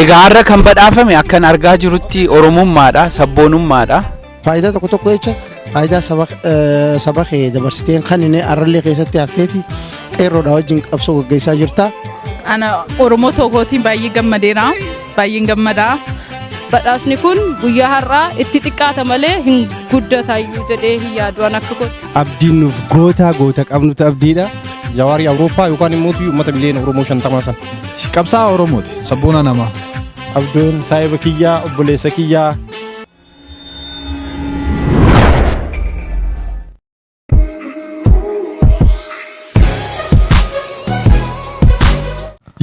Egaa har'a kan badhaafame akkan argaa jirutti Oromummaadha, sabboonummaadha. Faayidaa tokko tokko jecha faayidaa saba eh, saba kee dabarsiteen kan inni arrallee keessatti hafteeti qeerroodha wajjin qabsoo gaggeessaa jirta. Ana Oromoo tokkootiin baay'ee gammadeera. Baay'een gammada. Badhaasni kun guyyaa har'aa itti xiqqaata malee hin guddatayyuu jedhee hin yaadu an akka kooti. abdiin nuuf gootaa goota qabnutu abdiidha. Jawaari Awurooppaa yookaan immoo uummata biliyoona Oromoo shantamaa sana. Qabsaa Oromooti sabboona namaa. Abduun saahiba kiyyaa obboleessa kiyyaa.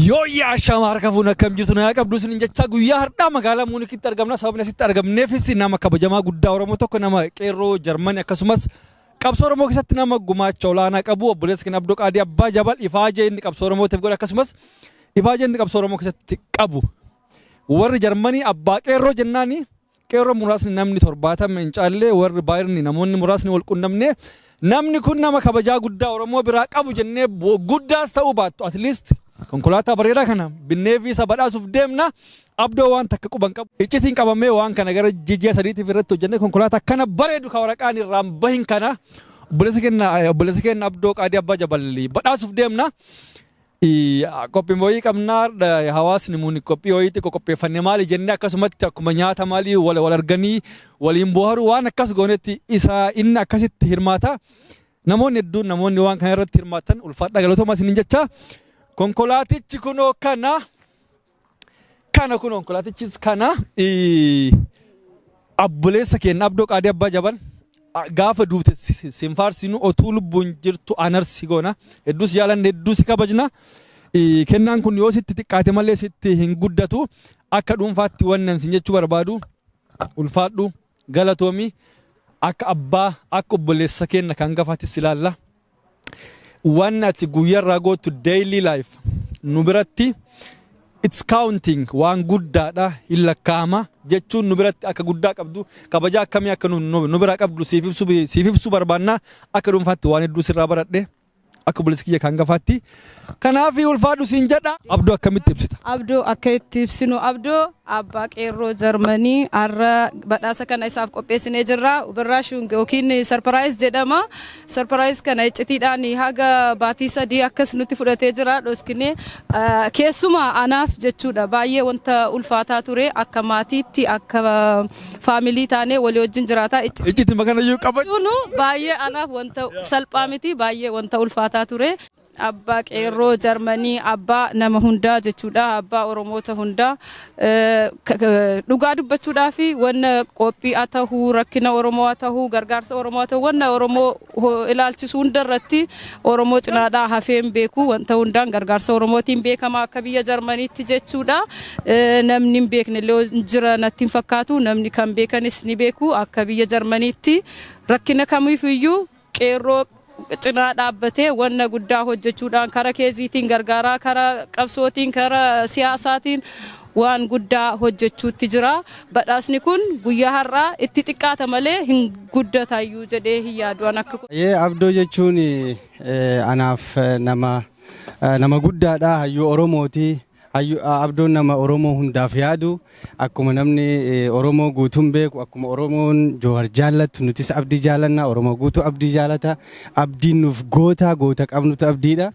Yooyyaa shaama harka fuun akkam jirtu nagaa qabdu isin jechaa guyyaa har'aa magaalaa Muunikitti argamna sababni asitti argamneefis nama kabajamaa guddaa Oromoo tokko nama qeerroo Jarmani akkasumas Qabsoo Oromoo keessatti nama gumaacha olaanaa qabu obboleessa keenya Abdoo Qaadii Abbaa Jabal ifaajee inni qabsoo Oromootiif godhe akkasumas ifaajee inni qabsoo Oromoo keessatti qabu. Warri Jarmanii abbaa qeerroo jennaani qeerroo muraasni namni torbaatama hin caalle warri baayirni namoonni muraasni wal qunnamne namni kun nama kabajaa guddaa Oromoo biraa qabu jennee guddaas ta'uu baattu at least konkolaataa bareedaa kana binnee fi isa badhaasuuf deemna Abdoo waan takka quba hin qabu. Iccitiin qabamee waan kana gara ji'a sadiitiif irratti hojjannee konkolaataa kana bareedu ka waraqaan irraa hin bahin kana obboleessa keenya obboleessa keenya Abdoo Qaadii Abbaa Jabal badhaasuuf deemna. Qophii wayii qabnaa hawaasni muni qophii wayiitti qopheeffanne maali jennee akkasumatti akkuma nyaata maalii wal wal arganii waliin booharu waan akkas goonetti isa inni akkasitti hirmaata. Namoonni hedduun namoonni waan kana irratti hirmaatan ulfaadhaa galatoomaa isiniin jecha konkolaatichi kunoo kana. Kana kun konkolaatichis kana abboleessa keenya abdoo qaadii abbaa jaban gaafa duute sin faarsinu otuu lubbuun jirtu anarsi goona hedduu si jaalanne hedduu si kabajna kennaan kun yoo sitti xiqqaate malee sitti hin guddatu akka dhuunfaatti wannan sin jechuu barbaadu ulfaadhu galatoomi akka abbaa akka obboleessa keenya kan gafaatis ilaalla. waan ati guyyarraa gootu daily life nu biratti it's counting waan guddaadha hin lakkaa'ama jechuun nu biratti akka guddaa qabdu kabajaa akkamii akka nu- nu nu biraa qabdu siif ibsu siif ibsu barbaanna akka dhuunfaatti waan hedduu sirraa baradhe akka obboleessa kiyya kan gafaatti Kanaafi ulfaadhu siin jedha. Abdoo akkamitti ibsita? Abdoo akka itti ibsinu Abdoo abbaa qeerroo Jarmanii har'a badhaasa kana isaaf qopheessinee jirra. Ubirraashung yookiin sarparaayis jedhama. Sarparaayis kana iccitiidhaan haga baatii sadii akkas nutti fudhatee jira dhoskinee. Ah, Keessumaa anaaf jechuudha baay'ee wanta ulfaataa ture akka maatiitti akka faamilii taanee walii wajjin jiraataa icci Iccitti makanayyuu qaba. Sunu baay'ee anaaf wanta salphaa miti baay'ee wanta ulfaataa ture. Abbaa qeerroo Jarmanii abbaa nama hundaa jechuudha abbaa Oromoota hundaa Eh, k- k- dhugaa dubbachuudhaa fi wanna qophii haa tahuu rakkina Oromoo haa tahuu gargaarsa Oromoo haa tahuu wanna Oromoo ilaalchisu hunda irratti Oromoo cinaadhaa hafee hin beeku. Wanta hundaan gargaarsa Oromootiin beekama akka biyya Jarmaniitti jechuudha. Namni hin beekne illee jira natti hin fakkaatu. Namni kan beekanis ni beeku akka biyya Jarmaniitti rakkina kamiifiyyuu qeerroo cinaa dhaabbatee wanna guddaa hojjechuudhaan kara keeziitiin gargaaraa kara qabsootiin kara siyaasaatiin waan guddaa hojjechuutti jira. Badhaasni kun guyyaa har'aa itti xiqqaata malee hin guddatayyuu jedhee hin yaadu an akka. Hayyee Abdoo jechuun anaaf nama nama guddaadha. Hayyuu Oromooti. Hayyu- a- Abdoon nama Oromoo hundaaf yaadu akkuma namni eh, Oromoo guutuun beeku akkuma Oromoon Joohar jaallatu nutis abdii jaalanna Oromoo guutuu abdii jaalata abdiin nuuf goota goota qabnutu abdiidha.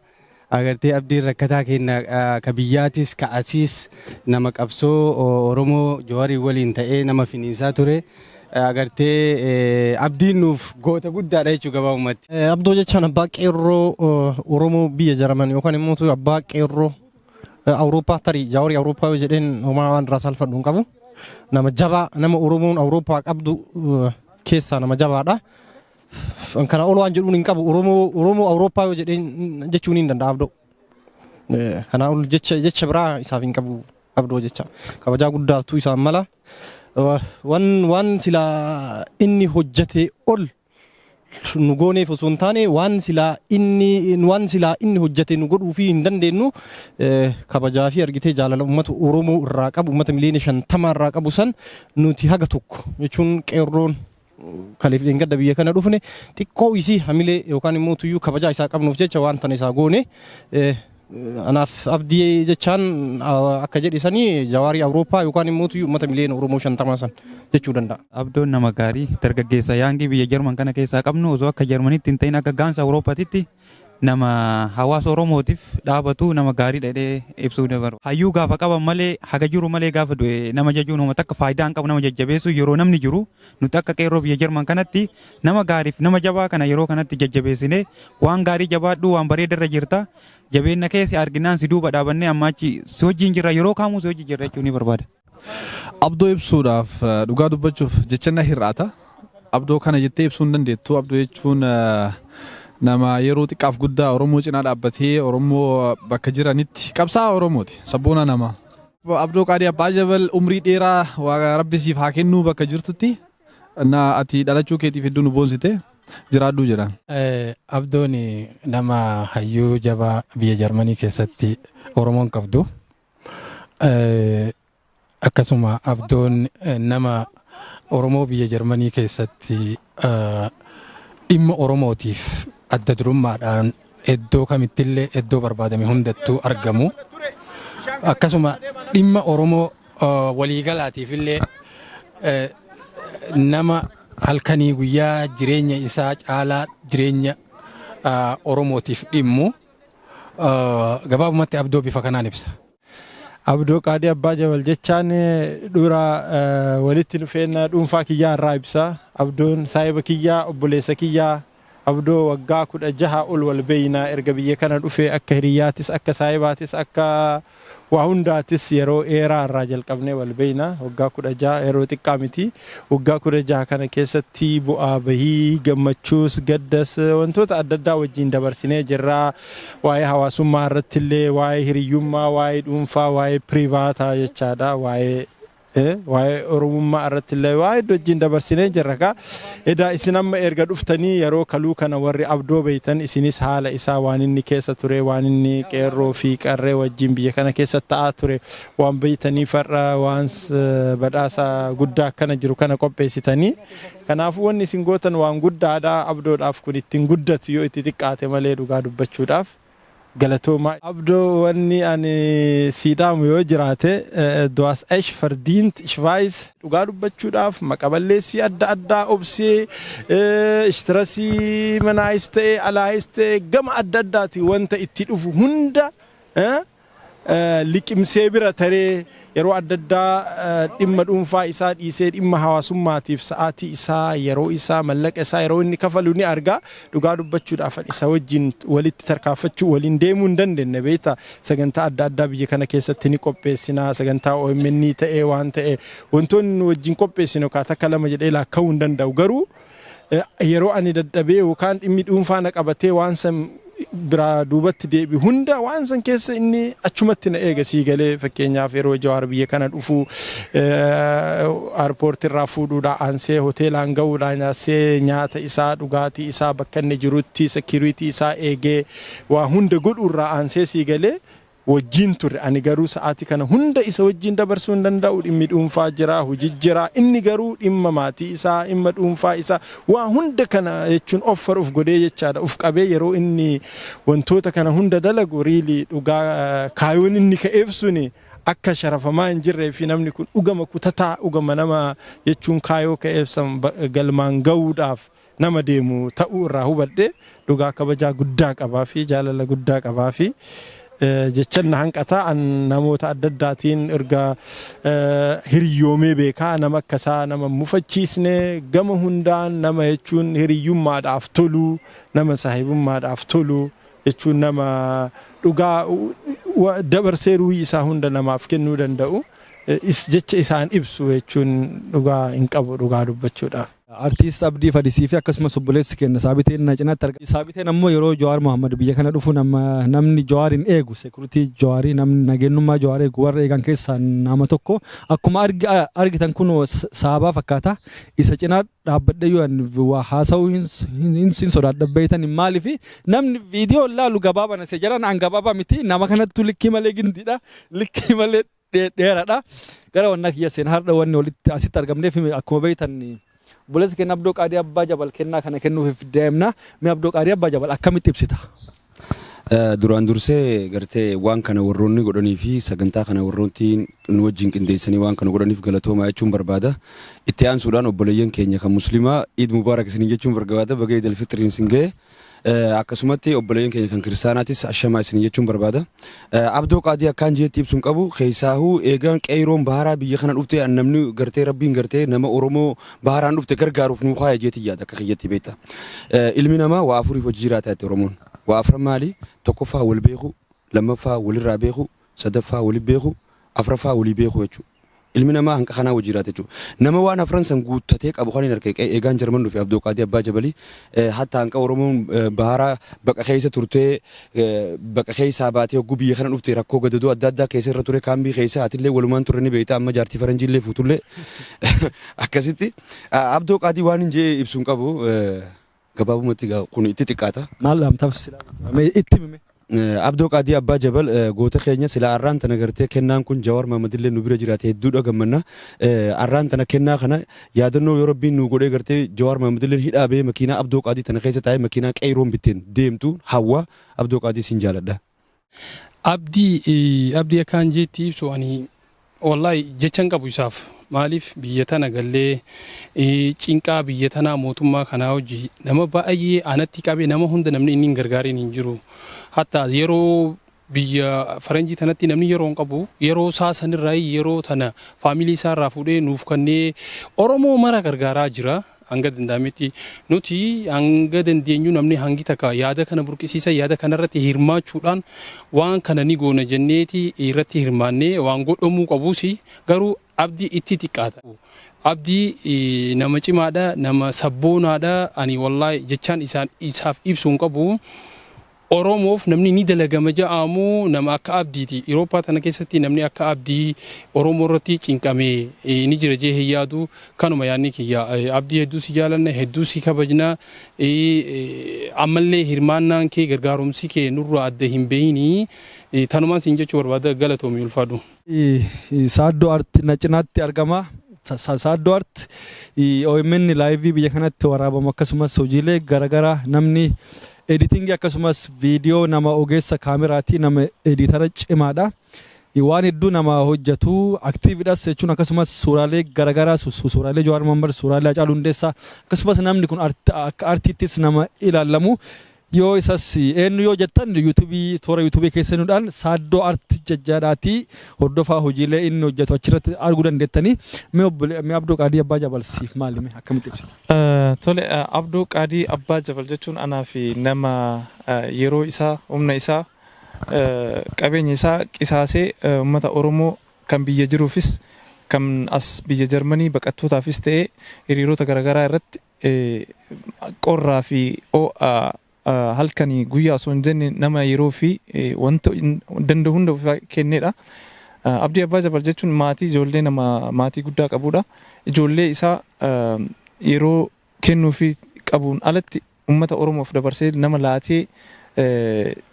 Agartee abdiin rakkataa keenna ka biyyaatis ka asiis nama qabsoo Oromoo Jawariin waliin ta'ee nama finiinsaa ture. Agartee abdiin nuuf goota guddaadha jechuu gabaabumatti. Abdoo jechaan abbaa qeerroo Oromoo biyya Jaraman yookaan immoo abbaa qeerroo Awurooppaa tarii Jawarii Awurooppaa yoo jedheen homaa waan irraa salfadhu hin qabu. Nama jabaa nama Oromoon Awurooppaa qabdu keessaa nama jabaadha. An kana ol waan jedhuun hin qabu Oromoo Oromoo Awurooppaa yoo jedheen jechuun hin danda'a abdoo. Eh, Kanaa ol jecha jecha biraa isaaf hin qabu abdoo jecha kabajaa guddaatu isaan mala. Wa- Waan waan sila inni hojjetee ol nu gooneef osoo hin taane waan silaa inni waan silaa inni hojjete nu godhuu fi hin dandeenyu eh, kabajaa fi argitee jaalala uummata Oromoo irraa qabu uummata miliyoona shantama irraa qabu san nuti haga tokko jechuun qeerroon Kaleef dheengadda biyya kana dhufne xiqqoo isii hamilee yookaan immoo tuyyuu kabajaa isaa qabnuuf jecha waan tana isaa goone anaaf abdii jechaan akka jedhe sanii jawaarii awurooppaa yookaan immoo tuyyuu uummata miliyoona oromoo shantamaa san jechuu danda'a. Abdoon nama gaarii dargaggeessa yaangii biyya jarman kana keessaa qabnu osoo akka jarmanitti hin ta'in akka gaansa awurooppaatitti Nama hawaasa Oromootiif dhaabatu nama gaariidha jedhee ibsuu ni barbaada. Hayyuu gaafa qaban malee, haga jiru malee gaafa du'e nama jajuun homa takka faayidaa hin qabu. Nama jajjabeessuun yeroo namni jiru nuti akka qeerroo biyya Jarman kanatti nama gaariif nama jabaa kana yeroo kanatti jajjabeessinee waan gaarii jabaadhu waan bareeda irra jirta jabeenna kee si arginaan si duuba dhaabannee ammaa achi si wajjin jirra yeroo kaamuu si wajjin jirra jechuu ni barbaada. Abdoo ibsuudhaaf eh, dhugaa dubbachuuf jecha na hir'ata. Abdoo kana jettee ibsuu hin dandeettu. Abdoo jechuun eh, nama yeroo xiqqaaf guddaa Oromoo cinaa dhaabbatee Oromoo eh, bakka jiranitti qabsaa'aa Oromooti. Sabboonaa nama. Abdoo Qaadii Abbaa Jabal umrii dheeraa waaqa rabbi siif haa kennuu bakka jirtutti na ati dhalachuu keetiif hedduu nu boonsite jiraadhuu jedhan. Eh, Abdoon nama hayyuu jabaa biyya Jarmanii keessatti Oromoon qabdu Eh, akkasuma abdoon eh, nama oromoo biyya jarmanii keessatti eh, dhimma oromootiif adda durummaadhaan iddoo kamittillee iddoo barbaadame hundattuu argamu akkasuma dhimma oromoo eh, waliigalaatiifillee eh, nama halkanii guyyaa jireenya isaa caalaa jireenya ah, oromootiif dhimmu Gabaabumatti abdoo bifa kanaan ibsa. Abdoo Qaadii Abbaa Jabal jechaan dura walitti dhufeenya dhuunfaa kiyyaa irraa ibsa. Abdoon saahiba kiyyaa obboleessa kiyyaa abdoo waggaa kudha jaha ol wal beeyna erga biyya kana dhufe akka hiriyyaatis akka saahibaatis akka Waa hundaatis yeroo dheeraa irraa jalqabnee wal beekna. Waggaa 16 yeroo xiqqaa miti. Waggaa 16 kana keessatti bu'aa bahii, gammachuus, gaddas wantoota adda addaa wajjin dabarsinee jirra. Waa'ee hawaasummaa irratti illee waa'ee hiriyyummaa, waa'ee dhuunfaa, waa'ee pirivaataa jechaadha. Waa'ee Waa'ee Oromummaa irratti illee waa hedduu wajjin dabarsinee jirra kaa. Edaa isin amma erga dhuftanii yeroo kaluu kana warri abdoo beektan isinis haala isaa waan inni keessa ture waan inni qeerroo fi qarree wajjin biyya kana keessa ta'aa ture waan beektanii farra waan badhaasa guddaa akkana jiru kana qopheessitanii. Kanaafuu wanni isin gootan waan guddaadha abdoodhaaf kun ittiin guddatu yoo itti xiqqaate malee dhugaa dubbachuudhaaf. galatoomaa. Abdo wanni ani sii dhaamu yoo jiraate du hast esch verdient ich weiss. Dhugaa dubbachuudhaaf maqa balleessii adda addaa obsee ishtirasii manaayis ta'ee alaayis ta'ee gama adda addaatiin wanta itti dhufu hunda liqimsee bira taree yeroo adda addaa dhimma dhuunfaa isaa dhiisee dhimma hawaasummaatiif sa'aatii isaa, yeroo isaa, mallaqa isaa yeroo inni kafalu ni arga. Dhugaa dubbachuudhaaf ani isa wajjin walitti tarkaanfachuu waliin deemuu hin dandeenye beekta. Sagantaa adda addaa biyya kana keessatti ni qopheessina. Sagantaa OMN ta'ee waan ta'e wantoonni nu wajjin qopheessinu kaa takka lama jedhee laakka'uu hin danda'u garuu yeroo ani dadhabee yookaan dhimmi dhuunfaa na qabatee waan san biraa duubatti deebi hunda waan san keessa inni achumatti na eega sii galee fakkeenyaaf yeroo jawaar biyya kana dhufu airpoortii irraa fuudhuudha aansee hoteelaan ga'uudha nyaasee nyaata isaa dhugaatii isaa bakka inni jirutti sekiriitii isaa eegee waa hunda godhu irraa aansee sii galee wajjin turre. Ani garuu sa'aatii kana hunda isa wajjin dabarsuu hin danda'u. Dhimmi dhuunfaa jira, hoji jira. Inni garuu dhimma maatii isaa, dhimma dhuunfaa isaa, waa hunda kana jechuun offer of godhee jechaadha. Of qabee yeroo inni wantoota kana hunda dalagu really dhugaa kaayoon inni ka'eef suni akka sharafamaa hin jirree fi namni kun dhugama kutataa, dhugama nama jechuun kaayoo ka'eef san galmaan ga'uudhaaf nama deemu ta'uu irraa hubadhe dhugaa kabajaa guddaa qabaa fi jaalala guddaa qabaa fi jechan na hanqataa an namoota adda addaatiin erga hiriyyoomee beekaa nama akka isaa nama mufachiisne gama hundaan nama jechuun hiriyyummaadhaaf tolu nama saahibummaadhaaf tolu jechuun nama dhugaa dabarsee ruuhii isaa hunda namaaf kennuu danda'u jecha isaan ibsu jechuun dhugaa hin qabu dhugaa dubbachuudhaaf. Artiist Abdii Fadisii fi akkasumas obboleessi keenna Saabiteen na cinaatti arga. Saabiteen ammoo yeroo Jawaar Mohammed biyya kana dhufu nama namni Jawaarin eegu security Jawaarii namni nageenyummaa Jawaar eegu warra eegan keessaa nama tokko. Akkuma argi argitan kunoo saabaa fakkaata. Isa cinaa dhaabbadheyyuu ani waa haasa'uu hin hin hin sodaadha beeytan maaliif namni viidiyoo laalu gabaabana se jalaan an gabaabaa miti nama kanattuu likkii malee gindiidha likkii malee dheeradha. Gara wannaa kiyya seen hardha wanni walitti asitti argamneef akkuma beektan obboleessa keenya Abdoo Qaadii Abbaa Jabal kennaa kana kennuuf deemna. Mee Abdoo Qaadii Abbaa Jabal akkamitti ibsita? Duraan dursee gartee waan kana warroonni godhanii fi sagantaa kana warroonni nu wajjin qindeessanii waan kana godhaniif galatoomaa jechuun barbaada. Itti aansuudhaan obboleeyyan keenya kan musliimaa Iid Mubaarak isin jechuun barbaada baga Iid Alfitriin isin ga'e. Akkasumatti obboleeyyan keenya kan kiristaanaatis ashamaa isin jechuun barbaada. Abdoo qaadii akkaan jeetti ibsuun qabu keessaahuu eegaan qeeyroon baharaa biyya kana dhufte an namni gartee rabbiin gartee nama Oromoo baharaan dhufte gargaaruuf nuu kaaya jeetti yaada akka kiyyatti beekta. Ilmi namaa waa afuriif hojii jiraata jette Oromoon. Waa afran maali? Tokkoffaa wal beekuu, lammaffaa walirraa beekuu, sadaffaa wali beeku, afraffaa walii beeku jechuu. Ilmi namaa hanqa kanaa wajji jiraata jechuu. Nama waan afran san guuttatee qabu kanin arke eegaan Jarman dhufe Abdoo Qaadii Abbaa Jabalii hatta hanqa Oromoon bahara baqa keessa turtee baqa keessaa baatee hogguu biyya kana dhufte rakkoo gadadoo adda addaa keessa irra ture kaambii keessa atillee walumaan turre ni beekta amma jaartii faranjiillee fuutullee akkasitti Abdoo Qaadii waanin je'ee ibsuun qabu Gabaabumatti egaa kun itti xiqqaata. Maal dhaamtaaf silaa jechuudha? Mee itti himi mee. Eh, Abdoo Qaadii Abbaa Jabal eh, goota keenya sila arraan tana gartee kennaan kun Jawaar Mahamadillee nu bira jiraate hedduudha gammanna. Eh, Arraan tana kennaa kana yaadannoo yoo rabbiin nu godhee gartee Jawaar Mahamadilleen hidhaa ba'ee makiinaa Abdoo Qaadii tana keessa taa'ee makiinaa qeeyroon bitteen deemtu hawwa Abdoo Qaadii sin jaaladha. Abdii eh, abdii akkaan jeetti ibsu ani wallahi jechan qabu isaaf maaliif biyya tana gallee eh, cinqaa biyya tanaa mootummaa kanaa hojii nama baay'ee anatti qabe nama hunda namni inni hin gargaariin hin jiru hatta yeroo biyya faranjii tanatti namni yeroo hin qabu yeroo isaa sanirraa yeroo tana faamilii isaa irraa fuudhee nuuf kannee oromoo mara gargaaraa jira Hanga danda'ametti nuti hanga dandeenyu namni hangi takka yaada kana burqisiisa yaada kanarratti hirmaachuudhaan waan kana ni goona jenneeti irratti hirmaannee waan godhamuu qabus garuu abdii itti xiqqaata. Abdii nama cimaadha nama sabboonaadha ani wallaahi jechaan isaaf ibsu hin qabu. Oromoof namni ni dalagama ja'aamu nama akka Abdiiti. Irooppaa tana keessatti namni akka Abdii Oromoo irratti cinqamee ni jira jee hin yaadu. Kanuma yaadni kiyya. Abdii hedduu si jaalanna, hedduu si kabajna. Ammallee hirmaannaan kee, gargaarumsi kee nurraa adda hin bahinii. Tanumaan siin jechuu barbaada. Galatoomi ulfaadhu. Saaddoo Art na cinaatti argama. Saaddoo Art OMN laayivii biyya kanatti waraabamu akkasumas hojiilee garaagaraa namni editingii akkasumas viidiyoo nama ogeessa kaameraatii nama editara cimaadha. Waan hedduu nama hojjetu aktiividhas jechuun akkasumas suuraalee garaagaraa suuraalee Jawaar Mohammad suuraalee Hacaaluu Hundeessaa akkasumas namni kun akka artiittis nama ilaalamu Yoo isas eennu yoo jettan youtube toora youtube keessa seenuudhaan Saaddoo Art jajjaadhaatii hordofaa hojiilee inni hojjetu achirratti arguu dandeettanii. Mee obbole mee Abdoo Qaadii Abbaa Jabal siif maali mee akkamitti ibsita? Tole Abdoo Qaadii Abbaa Jabal jechuun anaa fi nama yeroo isaa, humna isaa, qabeenya isaa qisaasee ummata Oromoo kan biyya jiruufis kan as biyya Jarmanii baqattootaafis ta'ee hiriirota garagaraa irratti qorraa fi oo'a halkanii guyyaa osoo hin jenne nama yeroo fi wanta danda'u hunda ofii kennedha. Abdii Abbaa Jabal jechuun maatii ijoollee nama maatii guddaa qabudha. Ijoollee isaa yeroo kennuu fi qabuun alatti uummata Oromoof dabarsee nama laatee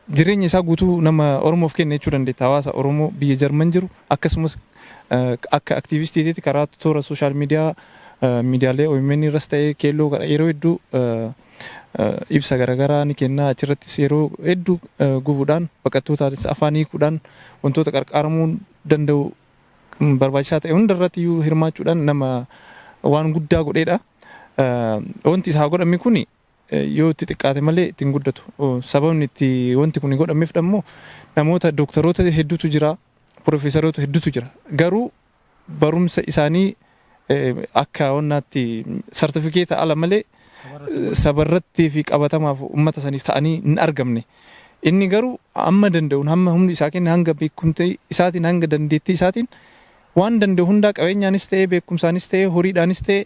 Jireenya isaa guutuu nama Oromoof kenne jechuu dandeetta. Hawaasa Oromoo biyya Jarman jiru akkasumas akka aktiivistiitiitti karaa toora sooshaal miidiyaa miidiyaalee omn irras ta'ee keelloo gara yeroo hedduu ibsa garaagaraa ni kenna. Achirrattis yeroo hedduu gubuudhaan baqattootaanis afaan hiikuudhaan wantoota qarqaaramuu danda'u barbaachisaa ta'e hundarratti iyyuu hirmaachuudhaan nama waan guddaa godheedha. Wanti isaa godhame kun yoo itti xiqqaate malee itti hin guddatu. Sababni itti wanti kun godhameef dhammoo namoota dooktaroota hedduutu jira, piroofeesaroota hedduutu jira. Garuu barumsa isaanii akka wannaatti sartifikeeta ala malee sabarratti fi qabatamaaf uummata saniif ta'anii hin argamne. Inni garuu amma danda'uun hamma humni isaa kenne hanga beekumtii isaatiin hanga dandeettii isaatiin waan danda'u hundaa qabeenyaanis ta'ee beekumsaanis ta'ee horiidhaanis ta'ee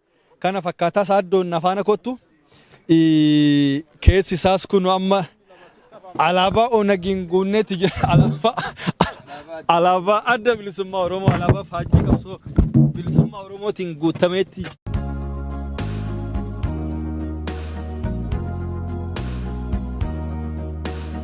kana fakkaataa saaddoon na faana kottu keessi isaas kun amma alaabaa onagiin guunnetti jira alaabaa alaabaa adda bilisummaa oromoo alaabaa faajjii qabsoo bilisummaa oromootiin guutameetti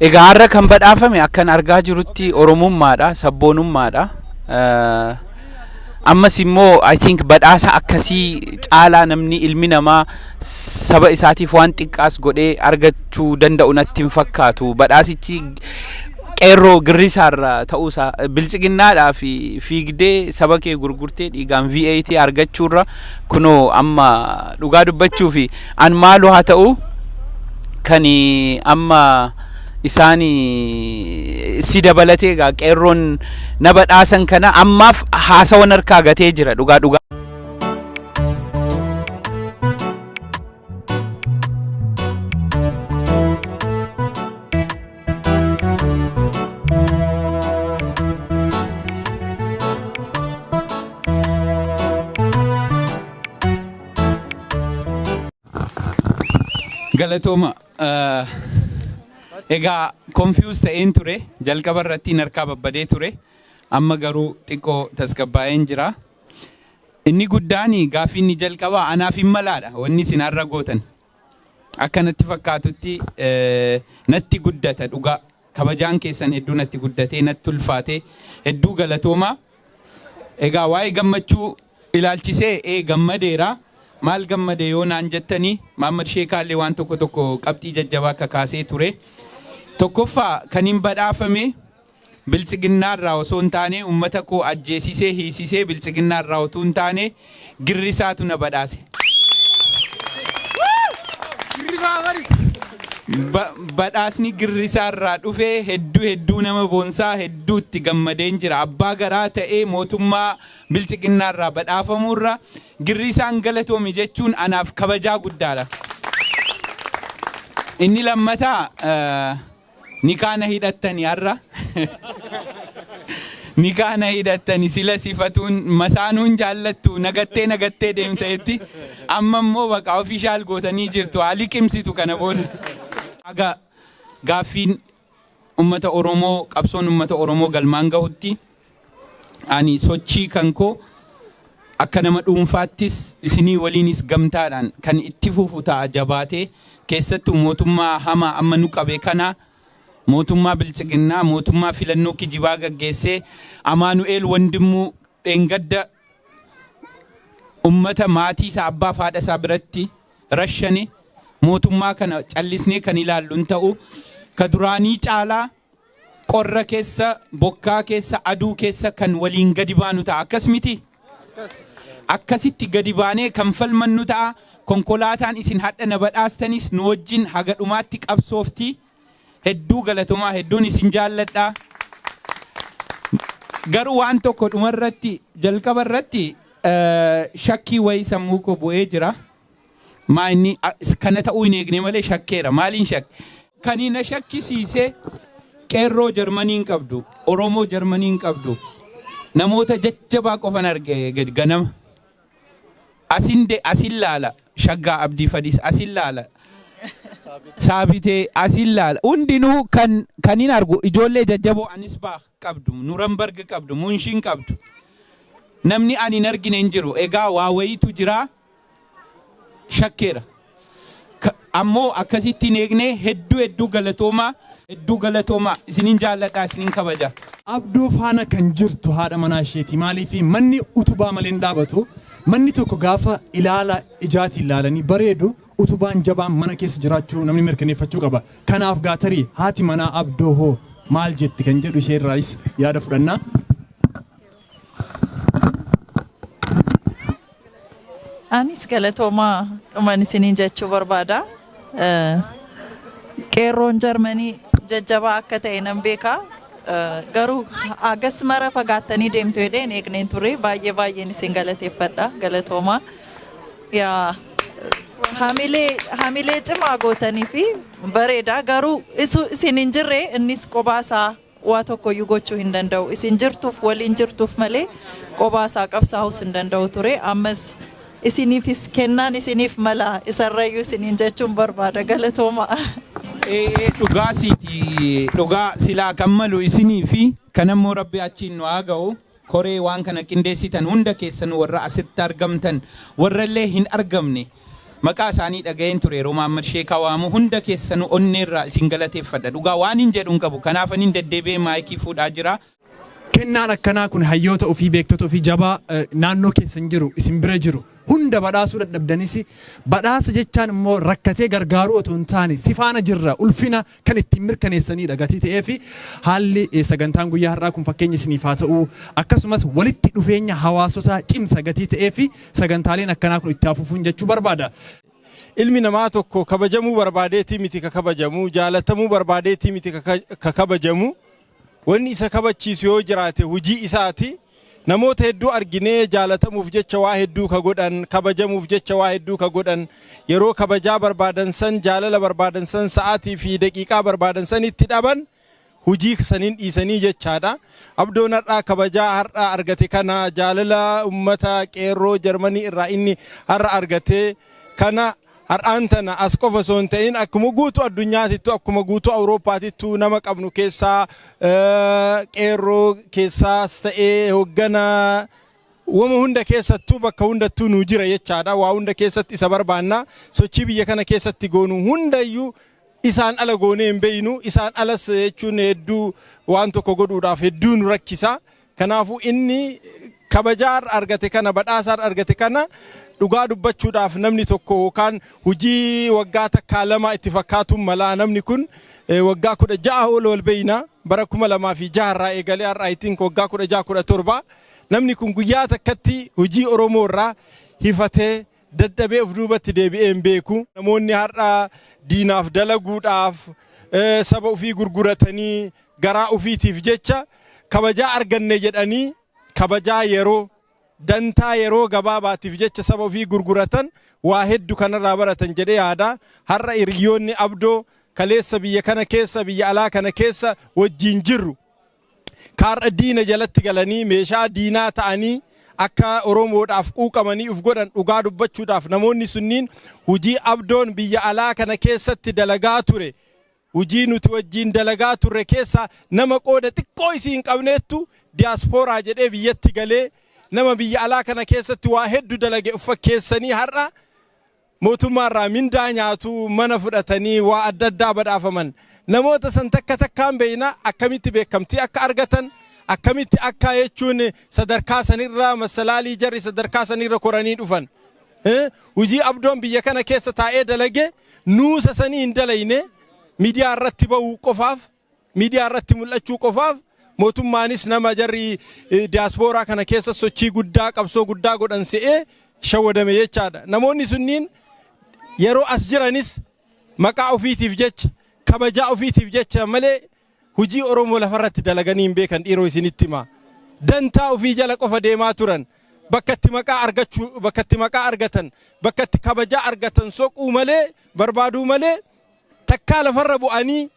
Egaa har'a kan badhaafame akkan argaa jirutti Oromummaadha, sabboonummaadha. Ammas immoo I think badhaasa akkasii caalaa namni ilmi namaa saba isaatiif waan xiqqaas godhee argachuu danda'u natti hin fakkaatu. Badhaasichi qeerroo girrisaarra ta'uusaa biltsiginnaadhaa fi fiigdee saba kee gurgurtee dhiigaan VAT argachuurra kunoo amma dhugaa dubbachuu fi An maalu haa ta'u kani amma isaani si dabalatee egaa qeerroon na badhaasan kana ammaaf haasawan harkaa gatee jira dhugaa dhugaa. Galatooma. eh, Egaa confuse ta'een ture jalqaba irratti hin harkaa babbadee ture amma garuu xiqqoo tasgabbaa'een jira. Inni guddaan gaaffiin inni jalqabaa anaaf hin malaadha wanni isin har'a gootan Akka natti fakkaatutti natti guddata dhugaa kabajaan keessan hedduu natti guddatee natti ulfaatee hedduu galatoomaa. Egaa waa'ee gammachuu ilaalchisee ee gammadeera maal gammade yoo naan jettanii Maammad Sheekaallee waan tokko tokko qabxii jajjabaa kakaasee ture. Tokkoffaa kan hin badhaafame Biltsiginnaa irraa osoo hin taane ummata koo ajjeesisee hiisisee biltsiginnaa irraa otuu hin taane girrisaatu na badhaase. Ba, badhaasni girrisaa irraa dhufe hedduu hedduu nama boonsaa hedduu itti gammadeen jira. Abbaa garaa ta'ee mootummaa biltsiginnaa irraa badhaafamuu irra girrisaan galatoomi jechuun anaaf kabajaa guddaadha. Inni lammataa eh, Nikaa na hidhattani har'a Nikaa na hidhattani sila sifatuun masaanuun jaallattu na gattee na gattee deemta jetti amma immoo baqa official gootanii jirtu haa liqimsitu kana booda haga gaaffiin ummata Oromoo qabsoon ummata Oromoo galmaan gahutti. Ani sochii kan koo akka nama dhuunfaattis isinii waliinis gamtaadhaan kan itti fufu ta'a jabaatee keessattuu mootummaa hamaa amma nu qabe kana mootummaa biltsiginnaa mootummaa filannoo kijibaa gaggeessee Amaanu'eel Wandimmuu dheengadda ummata maatii isaa abbaa fi haadha isaa biratti rashane mootummaa kana callisnee kan ilaallu hin ta'u ka duraanii caalaa Qorra keessa, bokkaa keessa, aduu keessa kan waliin gadi baanu ta'a. Akkas mitii? Akkasitti gadi baanee kan falmannu ta'a. Konkolaataan isin hadha na badhaastanis nu wajjin haga dhumaatti qabsoofti. Hedduu galatomaa hedduun isin jaalladha. Garuu waan tokko dhumarratti jalqabarratti shakkii wayii sammuu koo bu'ee jira. Maa inni kana ta'uu hin eegne malee shakkeera. Maaliin shakke? Kani na shakkisiise qeerroo Jarmanii hin qabdu, Oromoo Jarmanii hin qabdu, namoota jajjabaa qofan arge ganama. Asin de asin laala Shaggaa Abdii Fadis asin laala Saabitee asin laala hundinuu kan kan hin argu ijoollee jajjaboo Anisbaah qabdu, Nurambarg qabdu, Munshin qabdu. Namni ani hin argine hin jiru. Egaa waa wayiitu jiraa. shakkeera. Ka- Ammoo akkasitti hin eegne hedduu hedduu galatoomaa hedduu galatoomaa isinin jaalladha isinin kabaja. Abdoo faana kan jirtu haadha manaa isheeti. Maaliif manni utubaa malee hin dhaabatu. Manni tokko gaafa ilaala ijaatiin ilaalanii bareedu utubaan jabaan mana keessa jiraachuu namni mirkaneeffachuu qaba. Kanaaf gaatarii haati manaa abdoo hoo maal jetti kan jedhu ishee irraayis yaada fudhanna. Anis galatoomaa dhuman isiniin jechuu barbaada. Eh, Qeerroon Jarmanii jajjabaa akka ta'e nan beeka. Eh, Garuu hagas mara fagaattanii deemtu jedhee hin eegneen ture. Baay'ee baay'een isin galateeffadha. Galatoomaa. Yaa hamilee hamilee cimaa gootanii fi bareeda garuu isu isin hin jirre innis qobaasaa waa tokkoyyuu gochuu hin danda'u. Isin jirtuuf waliin jirtuuf malee qobaa isaa qabsaahus hin danda'u ture. Ammas isiniifis kennaan isiniif mala isarrayyuu isiniin jechuun barbaada. Galatoomaa. Ee'ee dhugaa siiti dhugaa silaa kan malu isiniifi kanammoo rabbi achiin nu haa ga'u. Koree waan kana qindeessitan hunda keessanuu warra asitti argamtan warra illee hin argamne maqaa isaanii dhaga'een ture yeroo Mahammad Sheekaa waamu hunda keessanuu onneerraa isin galateeffadha. Dhugaa waanin jedhu hin qabu kanaafanin deddeebi'ee maayikii fuudhaa jira. Kennaan akkanaa kun hayyoota ofii, beektota ofii jabaa naannoo keessan jiru, isin bira jiru hunda badhaasuu dadhabdanis badhaasa jechaan immoo rakkatee gargaaruu otoo hin taane si faana jirra ulfina kan ittiin mirkaneessaniidha gatii ta'ee fi haalli eh, sagantaan guyyaa har'aa kun fakkeenya isiniif haa ta'u akkasumas walitti dhufeenya hawaasotaa cimsa gatii ta'ee fi sagantaaleen akkanaa kun itti hafuufuun jechuu barbaada. Ilmi namaa tokko kabajamuu barbaadeetii miti ka kabajamu, jaalatamuu barbaadeetii miti ka ka- ka kabajamu, Wanni isa kabachiisu yoo jiraate hujii isaati. Namoota hedduu arginee jaalatamuuf jecha waa hedduu ka godhan, kabajamuuf jecha waa hedduu ka godhan, yeroo kabajaa barbaadan san, jaalala barbaadan san, sa'aatii fi daqiiqaa barbaadan san itti dhaban, hujii saniin dhiisanii jechaadha. Abdoon har'a kabajaa har'a argate kana, jaalala ummata qeerroo Jarmanii irraa inni har'a argate kana, Har'aan tana as qofa osoo hin ta'in akkuma guutuu addunyaatittuu akkuma guutuu Awurooppaatittuu nama qabnu keessaa qeerroo keessaas ta'ee hoggana wama hunda keessattuu bakka hundattuu nuu jira jechaadha. Waa hunda keessatti isa barbaanna. Sochii biyya kana keessatti goonu hundayyuu isaan ala goonee hin beeynu. Isaan alas jechuun hedduu waan tokko godhuudhaaf hedduu nu rakkisa. Kanaafuu inni kabajaa har'a argate kana, badhaasa har'a argate kana dhugaa dubbachuudhaaf namni tokko yookaan hojii waggaa takkaa lamaa itti fakkaatuun malaa namni kun eh, waggaa kudha ja'a ol wal beeyna bara kuma lamaa fi jaha irraa eegalee har'a I think waggaa kudha ja'a kudha torba namni kun guyyaa takkatti hojii Oromoo irraa hifatee dadhabee of duubatti deebi'ee hin beeku. Namoonni har'a diinaaf dalaguudhaaf saba ofii gurguratanii garaa ofiitiif jecha kabajaa arganne jedhanii kabajaa yeroo dantaa yeroo gabaabaatiif jecha saba ofii gurguratan waa heddu kanarraa baratan jedhee yaada. Har'a hiriyyoonni abdoo kaleessa biyya kana keessa biyya alaa kana keessa wajjiin jirru. ka har'a diina jalatti galanii meeshaa diinaa ta'anii akka Oromoodhaaf quuqamanii uf godhan dhugaa dubbachuudhaaf namoonni sunniin hujii Abdoon biyya alaa kana keessatti dalagaa ture hujii nuti wajjiin dalagaa turre keessaa nama qooda xiqqoo isii hin qabneettu diyaaspooraa jedhee biyyatti galee nama biyya alaa kana keessatti waa heddu dalage uf fakkeessanii har'a Mootummaa irraa mindaa nyaatu, mana fudhatanii waa adda addaa badhaafaman. Namoota san takka takkaan beeyna, akkamitti beekamtii akka argatan, akkamitti akka jechuun sadarkaa san irra masalaalii jarri sadarkaa san irra koranii dhufan. Hujii Abdoon biyya kana keessa taa'ee dalage nuusa sanii hin dalayne midiyaa irratti ba'uu qofaaf Miidiyaa irratti mul'achuu qofaaf mootummaanis nama jarri diyaaspooraa kana keessa sochii guddaa qabsoo guddaa godhan se'ee shawwadame jechaadha. Namoonni sunniin yeroo as jiranis maqaa ofiitiif jecha kabajaa ofiitiif jecha malee hojii Oromoo lafarratti dalaganii hin beekan dhiiroo isinitti hima. Dantaa ofii jala qofa deemaa turan. Bakka itti maqaa argachuu bakka itti maqaa argatan bakka itti kabajaa argatan soquu malee barbaaduu malee takkaa lafarra bu'anii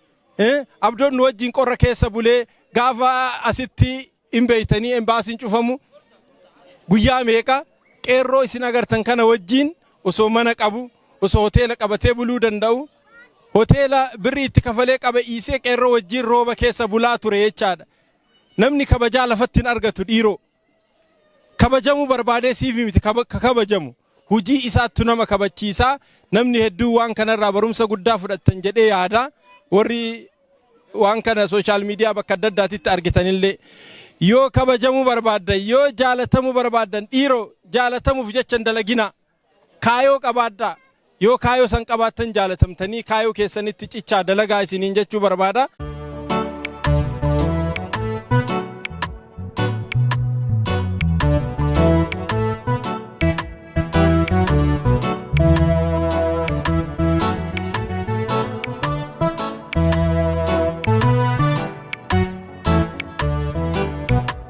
Abdoon nu wajjin qorra keessa bulee gaafa asitti hin beeytanii embaasiin cufamu guyyaa meeqa qeerroo isin agartan kana wajjin osoo mana qabu osoo hoteela qabatee buluu danda'u hoteela birrii itti kafalee qaba iisee qeerroo wajjin rooba keessa bulaa ture jechaadha. Namni kabajaa lafatti hin argatu dhiiroo. Kabajamuu barbaadee siif miti ka kabajamu, hujii isaattu nama kabachiisa. Namni hedduun waan kanarraa barumsa guddaa fudhattan jedhee yaada. Warri waan kana sooshaal miidiyaa bakka adda addaatitti argitanillee. Yoo kabajamuu barbaaddan, yoo jaalatamuu barbaaddan dhiiroo jaalatamuuf jecha hin dalaginaa. Kaayoo qabaadhaa! Yoo kaayoo san qabaattan jaalatamtanii kaayoo keessanitti cichaa dalagaa isiniin jechuu barbaada.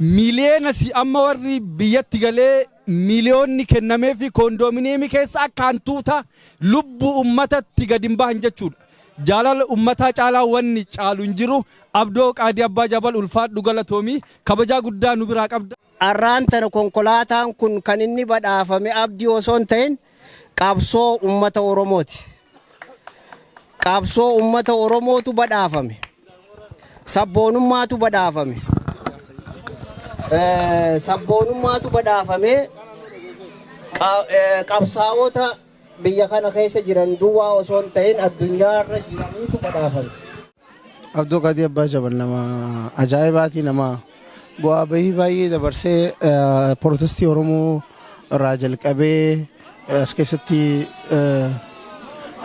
Miliyoona si amma warri biyyatti galee miliyoonni kennameefi koondoomineemii keessa akka hantuuta lubbuu ummatatti gad hin bahan jechuudha. Jaalala ummataa caalaa wanni caalu hin jiru. Abdoo Qaadii Abbaa Jabal ulfaadhu galatoomi. Kabajaa guddaa nu biraa qabda. Arraan tana konkolaataan kun kan inni badhaafame Abdii osoo hin ta'in Qabsoo ummata Oromooti. Qabsoo ummata Oromootu badhaafame. Sabboonummaatu badhaafame. Sabboonummaatu badhaafamee qabsaa'ota biyya kana keessa jiran duwwaa osoo hin ta'in addunyaa irra jiraniitu badhaafame. Abduu Qadii Abbaa Jabal nama ajaa'ibaati nama bu'aa bahii baay'ee dabarsee protestii Oromoo irraa jalqabee as keessatti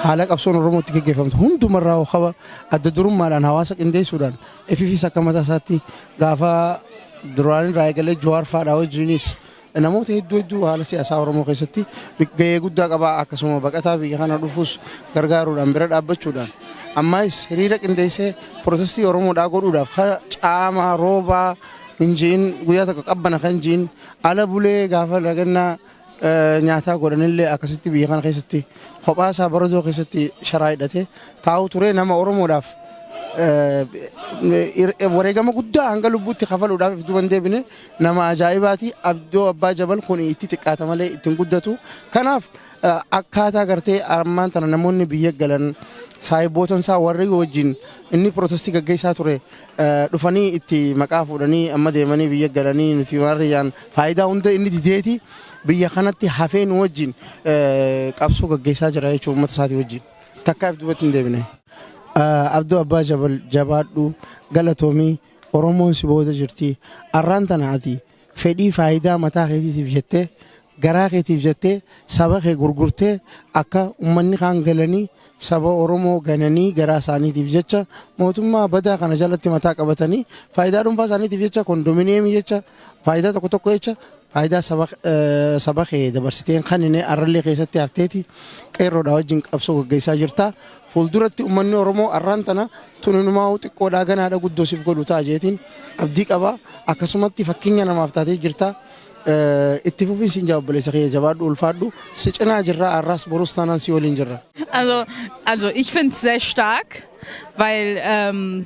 haala qabsoon Oromootti geggeeffamtu hundumarraa hookaba adda durummaadhaan hawaasa qindeessuudhaan ififis akka mataa isaatti gaafa duraanirraa eegalee Jawaar faadhaa wajjinis Namoota hedduu hedduu haala siyaasaa Oromoo keessatti gahee guddaa qaba. Akkasuma baqataa biyya kana dhufus gargaaruudhaan bira dhaabbachuudhaan ammaayis hiriira qindeessee protestii Oromoodhaa godhuudhaaf kara caamaa roobaa hin ji'in guyyaa tokko qabbana kan ji'in ala bulee gaafa lagannaa nyaataa godhanillee akkasitti biyya kana keessatti kophaa isaa baradoo keessatti sharaa hidhatee taa'u ture nama Oromoodhaaf wareegama guddaa hanga lubbuutti kafaluudhaaf duban deebine Nama ajaa'ibaati Abdoo Abbaa Jabal kuni itti xiqqaata malee itti hin guddatu. Kanaaf akkaataa gartee ammaan tana namoonni biyya galan saahibootan isaa warri wajjin inni pirootestii gaggeessaa ture dhufanii itti maqaa fuudhanii amma deemanii biyya galanii nuti warriyyaan faayidaa hunda inni dideeti biyya kanatti hafee nu wajjin qabsoo gaggeessaa jira jechuun uummata isaatii wajjin takkaaf duubatti hin deebine. Abdoo Abbaa Jabal jabaadhu galatoomii. Oromoon si booda jirti. Arraan tana ati fedhii faayidaa mataa keetiitiif jettee, garaa keetiif jettee saba kee gurgurtee akka ummanni kaan galanii saba Oromoo gananii garaa isaaniitiif jecha mootummaa badaa kana jalatti mataa qabatanii faayidaa dhuunfaa isaaniitiif jecha kondominiyeemii jecha faayidaa tokko tokko jecha faayidaa saba eh, saba kee dabarsiteen kan inni arrallee keessatti hafteeti qeerroodhaa wajjin qabsoo gaggeessaa jirta. Fuulduratti ummanni Oromoo arraan tana tun inumaahuu xiqqoodhaa ganaadha guddoo siif godhu ta'a jeetiin abdii qaba. Akkasumatti fakkeenya namaaf taatee jirta. Itti fufii siin jaa obboleessa kiyya jabaadhu ulfaadhu. Si cinaa jirra arraas borus taanaan si waliin jirra. Also, also ich finde es sehr stark, weil ähm,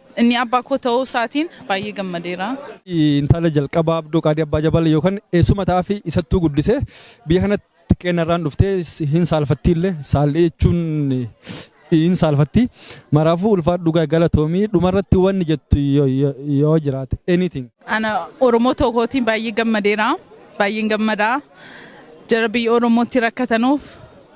Inni abbaa koo ta'uu isaatiin baay'ee gammadeera. Intala jalqabaa Abdoo Qaadii Abbaa Jabal yookaan eessuma ta'aafii isattuu guddise. Biyya kanatti xiqqeennarraan dhuftee hin saalfatti illee saalli jechuun hin saalfatti. Maraafuu ulfaadhu gaa galatoomii dhumarratti wanni jettu yoo- yoo yoo jiraate anything. Ana Oromoo tokkootiin baay'ee gammadeera. Baay'een gammadaa. Jara biyya Oromootti rakkatanuuf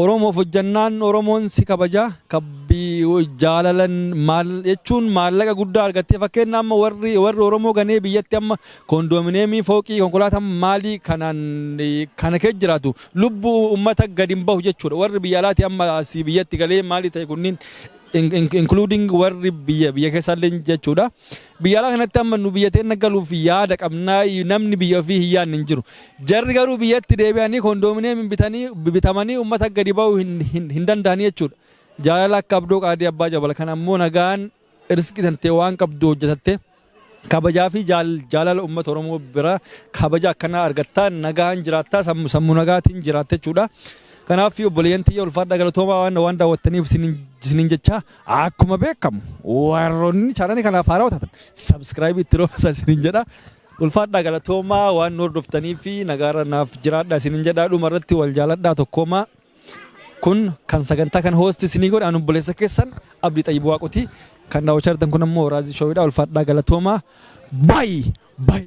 Oromoof hojjannaan Oromoon si kabaja jaalalan jechuun maallaqa guddaa argattee fakkeenna amma warri Oromoo ganee biyyatti amma koondoomineemii fooqii konkolaataan maalii kanaan kana keessa jiraatu lubbu ummata gadi hin bahu jechuudha warri biyya alaati amma asii biyyatti galee maalii ta'e kunniin including warri biyya biyya keessaallee jechuudha. Biyya alaa kanatti amma nu biyya teenna galuuf yaada qabna namni biyya ofii hin yaadne hin jiru. Jarri garuu biyyatti deebi'anii koondoomineemiin bitanii bitamanii uummata gadi ba'uu hin, hin, hin danda'anii jechuudha. Jaalala akka abdoo qaadii abbaa jabal kan ammoo nagaan risqii tantee waan qabdu hojjetattee kabajaa fi jaal, jaalala uummata Oromoo bira kabaja akkanaa argattaa nagaan jiraattaa sammu, sammu nagaatiin jiraatta jechuudha. Kanaaf obboleeyyan tiyya ulfaadha galatoomaa waan, waan daawwattaniif isinin, isinin jechaa. Akkuma beekamu warroonni chaanalii kanaaf haaraa taatan sabskiraayibii itti roobsa isiniin jedha. Ulfaadhaa galatoomaa waan nu hordoftanii fi nagaarra naaf jiraadhaa isiniin jedha. Dhuma irratti wal jaaladhaa tokkoomaa. Kun kan sagantaa kan hoosti isinii godhe anu obboleessa keessan Abdii Xayyibuu Waaqotii kan daawwachaa jirtan kun ammoo Raazii Shoowidhaa ulfaadhaa galatoomaa. Baay'ee baay'ee.